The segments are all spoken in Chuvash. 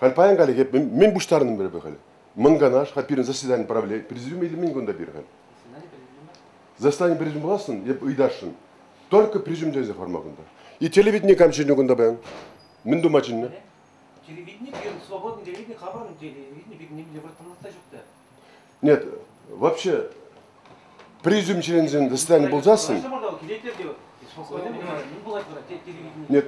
Халь паян калӗ эп мӗн пуҫтарнӑн пӗр халь. Мӑн канаш-ха пирӗн заседани правления президиума илмен кунта пир халь. Заседани президиум пуласшӑн, эп ыйтасшӑн. Только президиум тенсе форма кунта. И телевидение кам чӗннӗ кунта баян? Мӗн тума чӗннӗ? Телевидение, свободный телевидение, хабарный телевидение, бит немде выртмалла та Нет, вообще президиум членӗсен достояние пулсассӑн... Нет,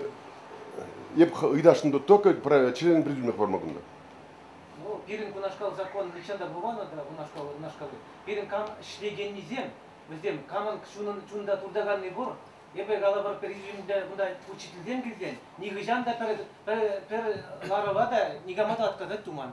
я бы ыйташны только про члены президиумных формагында. Ну, пирӗн кунашкал закон нихҫан та пулман да кунашкал кунашкал пирӗн кам ӗҫлекеннисем вӗсем камӑн чунӑн чунта туртаканни пур эпӗ калӑпӑр президиумда кунта учительсем килсен нихӑҫан та пӗр пӗр пӗр ларӑва та никама та атказать туман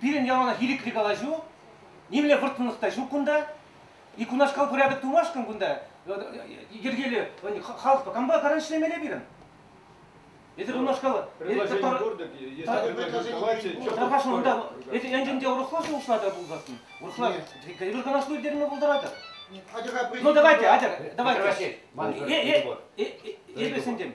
Пирӗн яланах ирӗкри калаҫу, нимле вӑрттӑнлӑх та ҫук кунта. И кунашкал хурапет тумашкӑн кунта йӗркелӳ халӑхпа кампа каран ӗҫлемелле пирӗн. Эсир унашкал... Предложение курдык, если предложение... Тархаш, унта... Эсир енчен те урӑхла шухӑшла та пулсассӑн, урӑхла калаҫу ирттерме пултаратӑр. Ну давайте, Атя, давайте. Эпе сентем.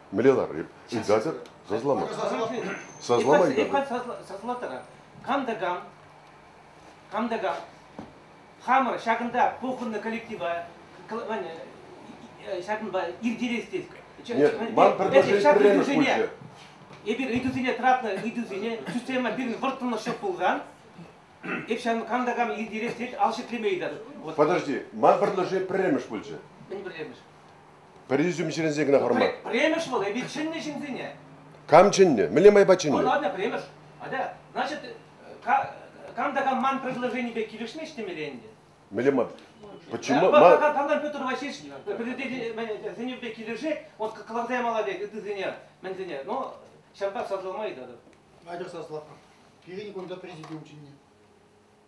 Мӗнле ларрip? Ыйтатӑр? Сасламастӑр. Саслама ыйтатӑр. Саслатӑр. Кам та кам, кам та кам. Хамӑр ҫакӑнта пухӑннӑ коллектива ҫакӑнпа иртерес тет. Нет, ман предложение пулчӗ. Эпир ыйтусене тратнӑ ыйтусене система пирӗн вӑрттӑнлӑхҫӑ пулсан, эп ҫакӑн кам та кам иртерес тет ал ҫӗклеме ыйтатӑп. Подожди, ман предложение пӗрремӗш пулчӗ. Мӗн пӗрремӗш? Пӗр ӳсӗм ҫӗленсен кӑна хӑрма. Премӗш вӑл, эпир чӗннӗ ҫынсене. Кам чӗннӗ? Мӗнле майпа чӗннӗ? Ну ладно, премӗш. Атя, значит, кам та кам ман предложенипе килӗшмест темелле ӗнтӗ. Мӗнле ман? Почему? Кавдан Петр Васильевич предложенипе килӗшет, вот каласа ямалла пек ытисене, мӗнсене, но ҫавӑнпа сасӑлма ыйтатӑп. Надя саслатӑп. Пирӗн кунта президент чӗннӗ.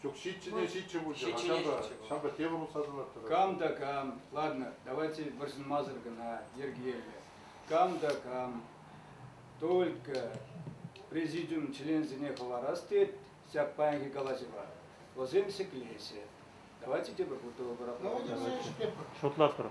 Ҫук, ҫиччӗне ҫиччӗ пулчӗ. Ҫиччӗне ҫиччӗ пулчӗ. Ҫавӑнпа тепӗр утса тӑнаттӑр. Кам та кам, ладно, давайте вӑрҫӑнмасӑр кӑна йӗркеллӗ. Кам та кам, только президиум членсене хӑварас тет ҫак паянхи калаҫӑва. Вӑсем ҫӗклеҫҫӗ. Давайте тепӗр утӑва пӑрахмалла. Шутлатпӑр.